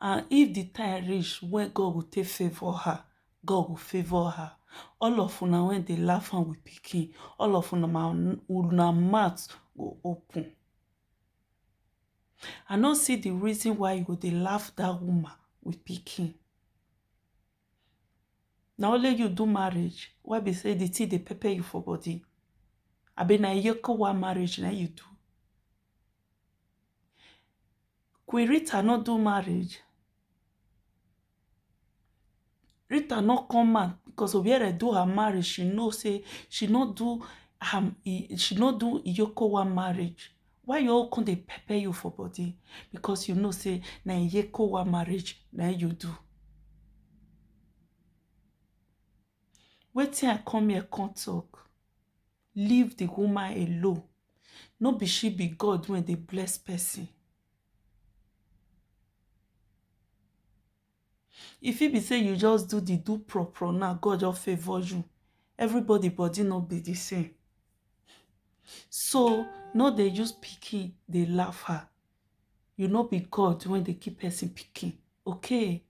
and if di time reach wey God go take favour her, God go favour her all of una wey dey laugh am with pikin all of una ma una mouth go open I no see di reason why you go dey laugh dat woman with pikin na only you do marriage wey be say di thing dey pepper you for body abi na eyekowa marriage na im you do Queen Rita no do marriage. Rita no come out because Obiere do her marriage. She know say she no do her, she no do Iyokowa marriage. Why you all come dey pepper you for body? Because you know say na Iyokowa marriage na you do. Wetin I come here come talk? leave the woman alone no be she be god wey dey bless person e fit be say you just do the do pro pro now god just favour you everybody body no be the same so no dey use pikin dey laugh her you no be god wey dey keep person pikin okay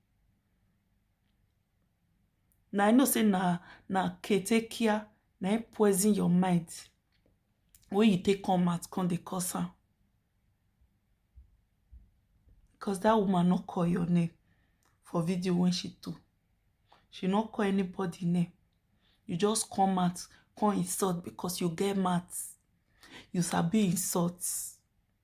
na i know say na na ketekia na im poison your mind wey you take come out come dey curse am because that woman no call your name for video when she do she no call anybody name you just come out come insult because you get mouth you sabi insult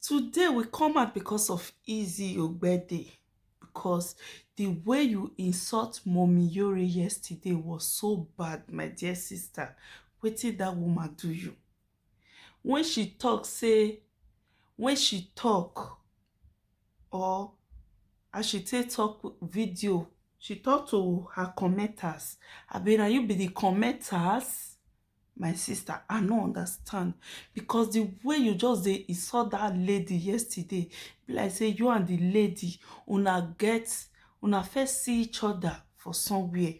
Today we come out because of Izzy Ogbede because the way you insult Mommy Yore yesterday was so bad, my dear sister. Wetin that woman do you? When she talk, say, when she talk, or as she take talk video, she talk to her commenters. I mean, are you be the commenters? My sister I no understand because the way you just dey insult that lady yesterday be like say you and the lady una get una first see each other for somewhere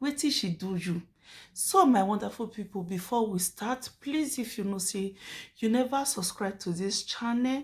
wetin she do you so my wonderful people before we start please if you know say you never subscribe to this channel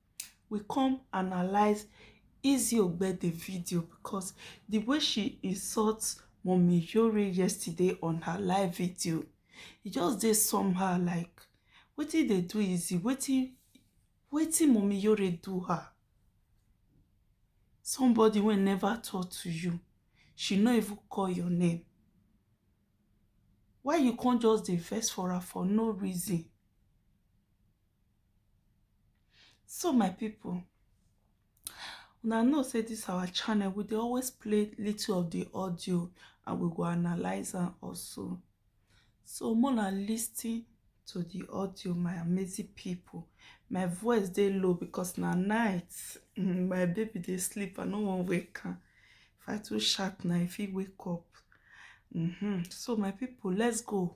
we come analyze Izzy Ogbede video because the way she insults Mommy Yori yesterday on her live video, it just did somehow like, what did they do Izzy? What did, what did Mommy Yori do her? Somebody will never talk to you. She not even call your name. Why you can't just dey for her for no reason? so my people una know say this our channel we dey always play little of the audio and we go analyze am also so mona listen to the audio my amazing people my voice dey low because na night mm, my baby dey sleep i no wan wake am if i too shout na if he wake up mm -hmm. so my people let's go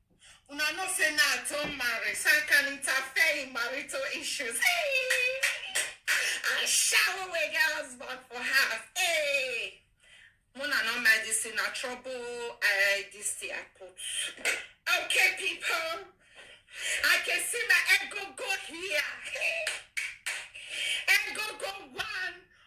Una know say now I don't marry, so I can interfere in marital issues. Hey! I shower away get husband for her. Hey! Mona no mind this in a trouble. I this thing I put. Okay, people. I can see my ego go here. Hey! Ego go one.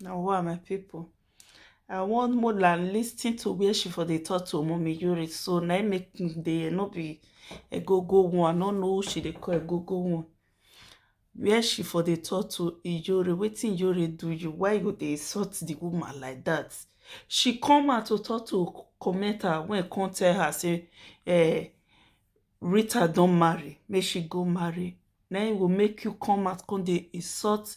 Now, who are my people? I want more than listening to where she for the talk to Mommy Yuri. So now I make the no be a go go one. I don't know who she they call a go go one. Where she for the talk to Yuri? Waiting Yuri do you? Why you they insult the woman like that? She come out to talk to commenter when come tell her say, eh, Rita don't marry. May she go marry. Now it will make you come out come they insult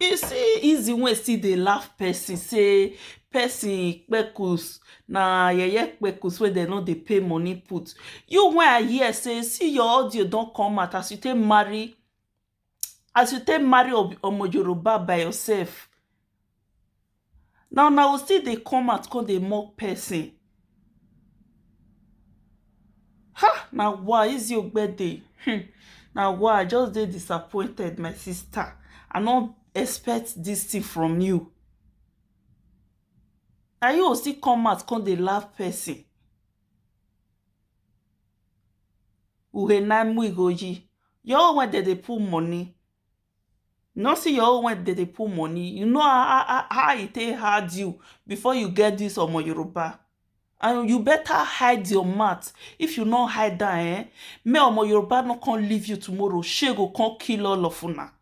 You see Izzy wey still dey laugh person say person kpekus na yeye kpekus wey dem no dey pay money put. You wey I hear say see your audio don come out as you take marry as you take marry omo Yoruba by yourself. Na una go still dey come out come dey mock person ha na wa Eze ogbede him na wa I just dey disappointed my sister I no expect this thing from you na you go still come out come dey laugh person your own when dem dey put money You no see your own when they dey put money. You know how, how, how e take hard you before you get this Omo Yoruba. And you better hide your mouth. If you no hide that, eh? May Omo Yoruba no come leave you tomorrow. She go come kill all of una.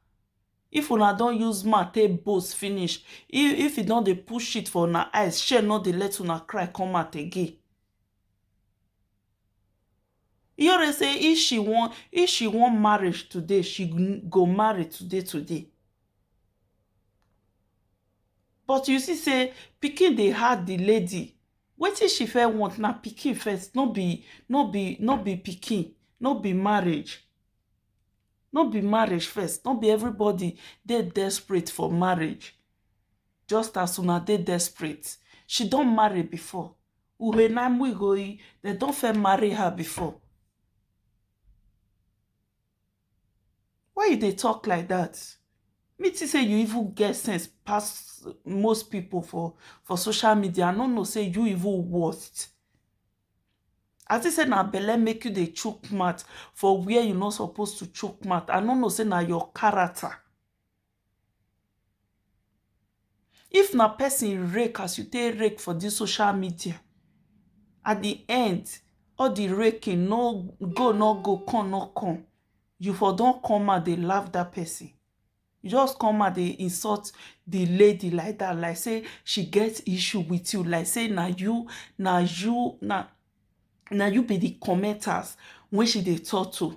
If una don use mouth take boast finish, if, if e don dey push shit for una eyes, shey no dey let una cry come out again. Iore say if she wan if she wan marriage today she go marry today today but you see say pikin dey hard the lady wetin she fe want na pikin first no be no be no be pikin no be marriage no be marriage first no be everybody dey desperate for marriage just as una dey desperate she don marry before Urenam Wigoyi, they don't fair marry her before. Why you they talk like that? Me to say you even get sense past most people for, for social media. I don't know say you even worst. As I said, now belle make you the choke mat for where you not supposed to choke mat. I don't know say now your character. If na person rake as you take rake for this social media at the end all the raking no go no go come no come you for don come out dey laugh that person you just come out dey insult the lady like that like say she get issue with you like say na you na you na na you be the commenters wey she dey talk to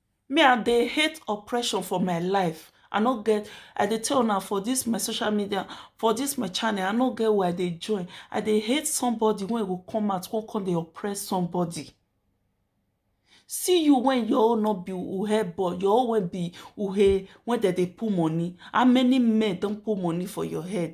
Me I dey hate oppression for my life I no get I dey tell una for this my social media for this my channel I no get where I dey join I dey hate somebody when go come out come come dey oppress somebody see you when your own no be uhe boy your own when be uhe when dem dey put money how many men don put money for your head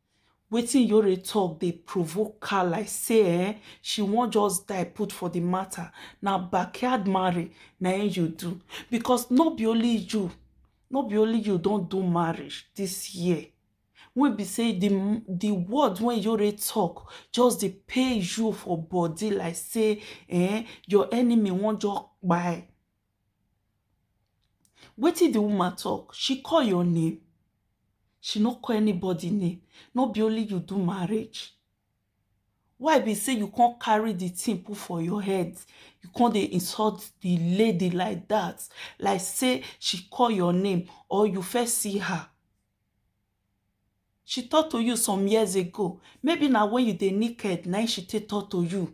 Wetin Yore talk dey provoke her like say um she wan just die put for the matter, na backyard marry na im you do because no be only you no be only you don do marriage this year wey be say the the word wey Yore talk just dey pain you for body like say um your enemy wan just kpai Wetin di woman talk, she call your name? She no call anybody name, no be only you do marriage? Why be say you come carry di thing put for your head, you come dey insult di lady like dat, like say she call your name or you first see her? She talk to you some years ago, maybe na when you dey naked na im she take talk to you.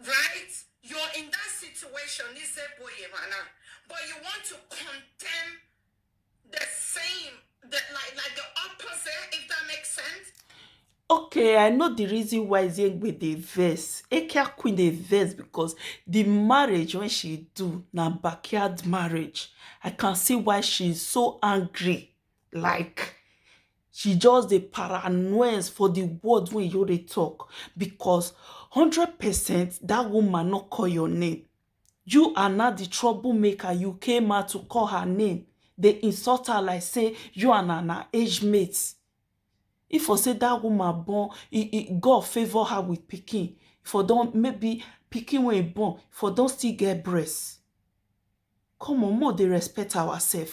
Right? You're in that situation, Nizeboyemana, but you want to condemn the same, the, like, like the opposite, if that makes sense. Okay, I know the reason why Zengbe dey vex. Ekia Queen dey vex because the marriage when she do na backyard marriage. I can see why she is so angry. Like She just dey paranoias for the word wey you dey talk because hundred percent that woman no call your name. You are now the troublemaker, you came out to call her name, dey insult her like say you and her na age mates. If for say that woman born, God favour her with pikin, for don maybe pikin wey e born for don still get breast. Come on, make we dey respect ourselves.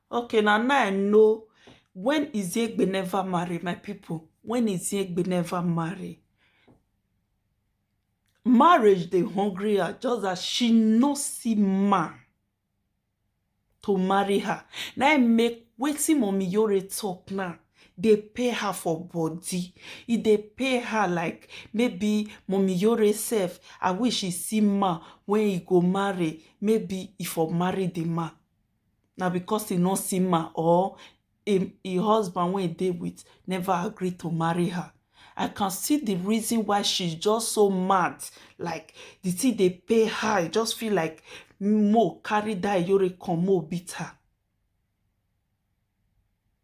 Okay na now I know when Iziegbe never marry my people when Iziegbe never marry marriage dey hungry her just that she no see man to marry her na im make wetin mommy Yore talk now dey pay her for body e dey pay her like maybe mommy Yore sef I wish she see man wey e go marry maybe e for marry the man na because e no see ma or im im husband wey e dey with never agree to marry her I can see the reason why she's just so mad like the thing dey pay her e just feel like mo carry that Iyore come mo beat her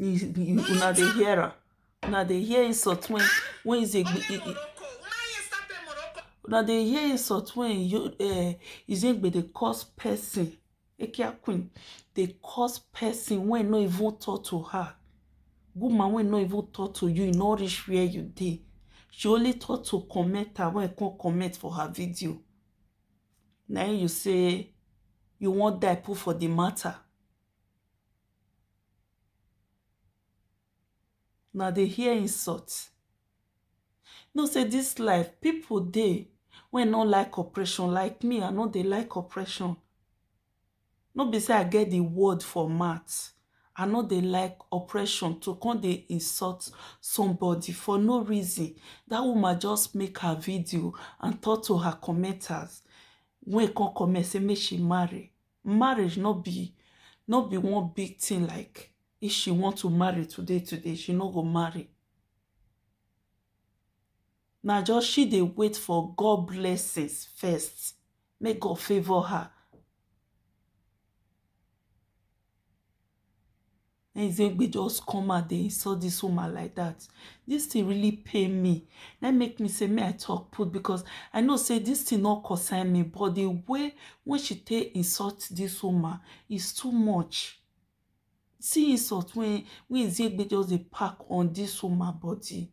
una dey hear am una dey hear insult when when is a una dey hear insult when uh, izegbe dey cause person ekia queen dey cause person wey no even talk to her woman wey no even talk to you e no reach where you dey she only talk to commenter wey come comment for her video na im you say you wan die put for the matter na dey hear insult know say this life people dey wey no like oppression like me i no dey like oppression No be say I get the word for mouth, I no dey like oppression to come dey insult somebody for no reason, that woman just make her video and talk to her commenters wey come comment say make she marry, marriage no be no be one big thing like if she want to marry today today she no go marry. na just she dey wait for God blessings first make God favour her na Ezegbe just come out dey insult this woman like that this thing really pain me na make me say may I talk put because I know say this thing no concern me but the way when she take insult this woman is too much see insult when when Ezegbe just dey pack on this woman body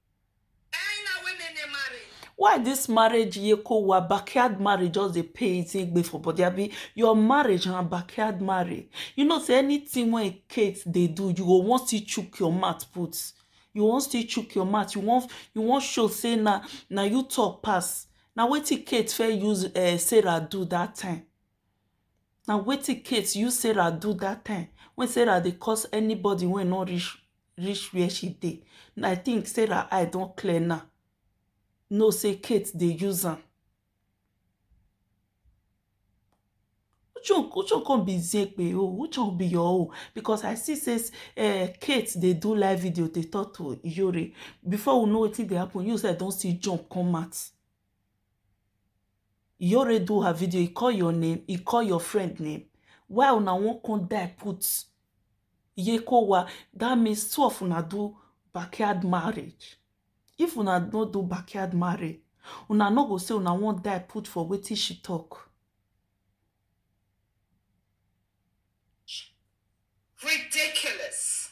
Ẹyin na women dey marry. why this marriage yeko wa backyard marriage just dey pay easy egbe for body abi your marriage na backyard marriage you know say anything when Kate dey do you go wan still chook your mouth put you wan still chook your mouth you wan you wan show say na na you talk pass na wetin Kate first use um Sarah do that time na wetin Kate use Sarah do that time when Sarah dey curse anybody wey no reach reach where she dey na i think sarah eye don clear now know say kate dey use am which one which one come be zepe o which one be your own because i see say uh, kate dey do live video dey talk to iyore before we know wetin dey happen you sef don still jump come out iyore do her video e call your name e call your friend name why una wan come die put Yekowa, that means two of una do backyard marriage. If una no do backyard marriage, una no go say una wan die put for wetin she talk. Ridiculous.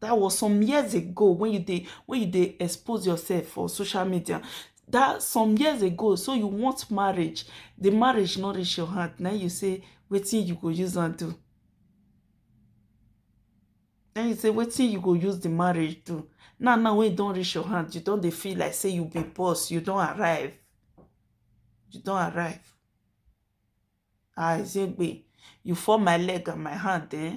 that was some years ago when you dey when you dey expose yourself for social media that some years ago so you want marriage the marriage no reach your hand na you say wetin you go use am do na you say wetin you go use the marriage do now now when you don reach your hand you don dey feel like say you be boss you don arrive you don arrive ah ezegbe you fall my leg and my hand eh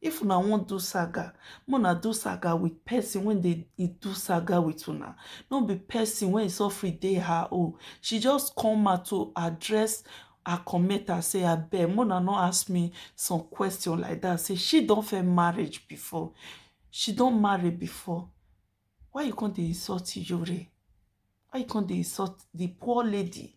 If una wan do saga, make una do saga with person wey dey e do saga with una, no be person wey e suffering dey her own. She just come out to address her commenter say abeg make una no ask me some question like that say she don first marriage before, she don marry before, why you come dey insult Iyore? Why you come dey insult the poor lady?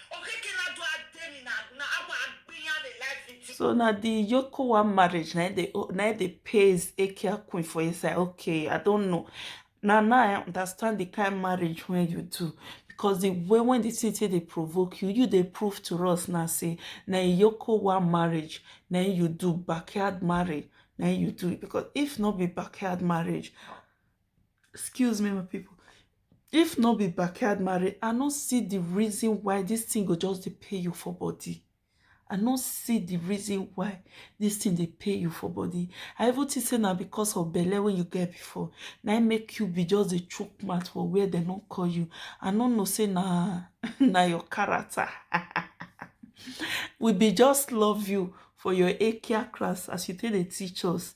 so na the yokowa marriage na dey na dey pays ekia queen for inside okay i don't know na now i understand the kind marriage wey you do because the way when the city dey provoke you you dey prove to us now say na yokowa marriage na you do backyard marriage na you do because if not be backyard marriage excuse me my people if no be backyard marriage i no see the reason why this thing go just dey pay you for body i no see the reason why this thing dey pay you for body i even think say na because of belle wey you get before na im make you be just dey chook mouth for where dem no call you i no know say na na your character we be just love you for your akia class as you take dey teach us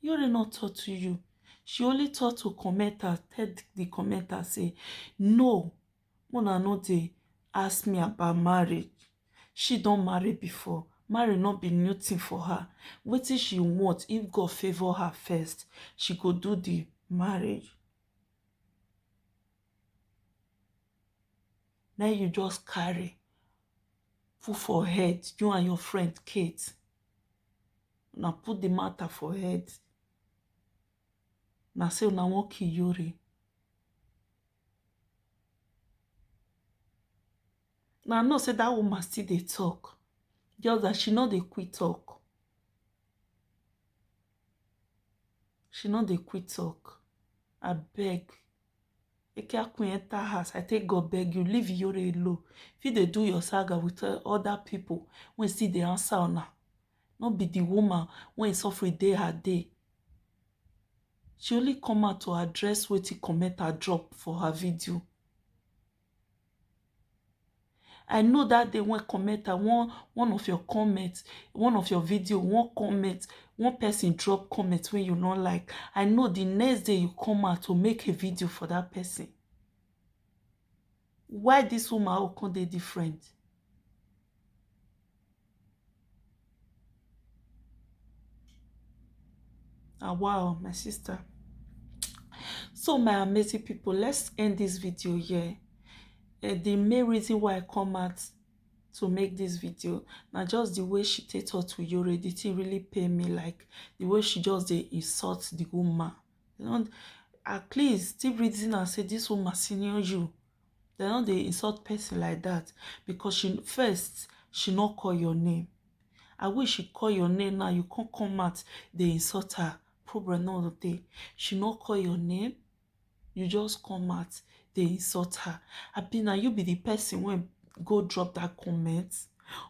Yore no talk to you. She only talk to commenters, tell the commenters say, no, Mona no dey ask me about marriage. She don't marry before. Marry not be new thing for her. What if she want, if God favor her first, she go do the marriage. Now you just carry put for head, you and your friend Kate. una put the matter for head na say una wan kill yori na know say that woman still dey talk just that she no dey quit talk she no dey quit talk abeg Eke Akun enter house, I take God beg you, leave Iyore alone. If you dey do your saga with uh, other people, when see the answer or not, not be the woman when suffer day her day. She only come out to address what he comment her drop for her video. I know that day one comment, I want one of your comments, one of your video, one comment, one person drop comment when you don't like. I know the next day you come out to make a video for that person. Why this woman Okon dey different? ah wow my sister so my amazing people let's end this video here uh, the main reason why i come out to make this video now just the way she take talk to you already it really pay me like the way she just they insult the woman you know at least still reason and say this woman senior you dem no dey insult person like that because she first she no call your name i wish she call your name now you can't come out dey insult her problem no dey she no call your name you just come out dey insult her abi na you be the person wey go drop that comment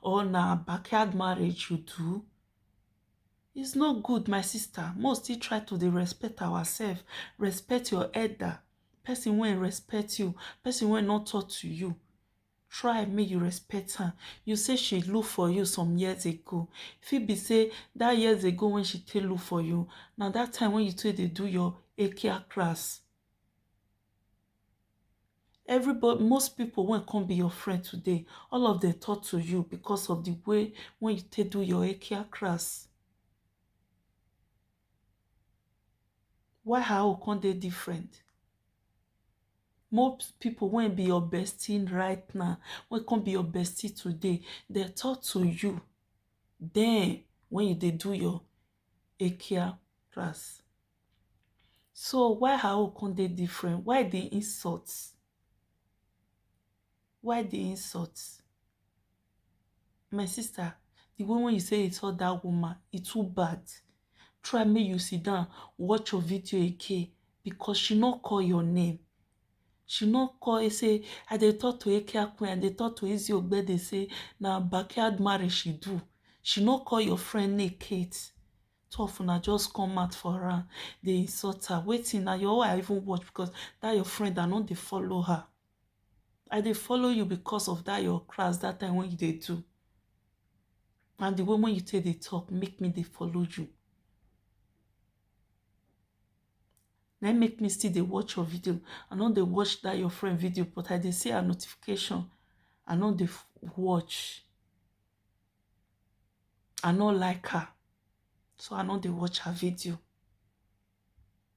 or na backyard marriage you do it's not good my sister most still try to dey respect ourselves respect your elder person wey respect you person wey no talk to you try make you respect am you say she look for you some years ago fit be say that years ago when she take look for you na that time when you take dey do your akia class everybody most people wey come be your friend today all of them talk to you because of the way when you take do your akia class Why her own come dey different? Most people wey be your bestie right now, wey come be your bestie today, dem talk to you den when you dey do your daycare class. So why her own come dey different? Why the insult? Why the insult? My sister, the way when you say insult that woman, e too bad. Try make you sit down, watch your video again because she no call your name. She no call you say, I dey talk to Eke Akun, I dey talk to Izzy Ogbede say na backyard marriage she do. She no call your friend name Kate. Two of una just come out for her, dey insult her. Waiting na your own I even watch because that your friend I no dey follow her. i dey follow you because of that your class that time when you dey do and the way when you take dey talk make me dey follow you na make me still dey watch your video i no dey watch that your friend video but i dey see her notification i no dey watch i no like her so i no dey watch her video